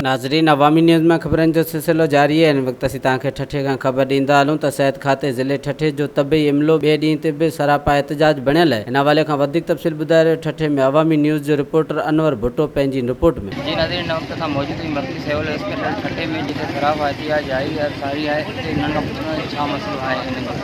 ناظرين عوامي نيوز مان خبرن جو سلسلو جاري آهي هن وقت اسين توهان کي ٺٽي کان خبر ڏيندا هلون ته صحت کاتي ضلعي ٺٽي جو طبي عملو ٻئي ڏينهن تي به سراپا احتجاج بڻيل آهي هن حوالي کان وڌيڪ تفصيل ٻڌائي رهيو ٺٽي ۾ عوامي نيوز جو رپورٽر انور ڀٽو پنهنجي هن رپورٽ ۾. جي ناظرين هن وقت اسان موجود آهيون مرڪزي سول اسپتال ٺٽي ۾ جتي سراپا احتجاج جاري آهي اتي انهن کان پڇنداسين ڇا مسئلو آهي انهن جو.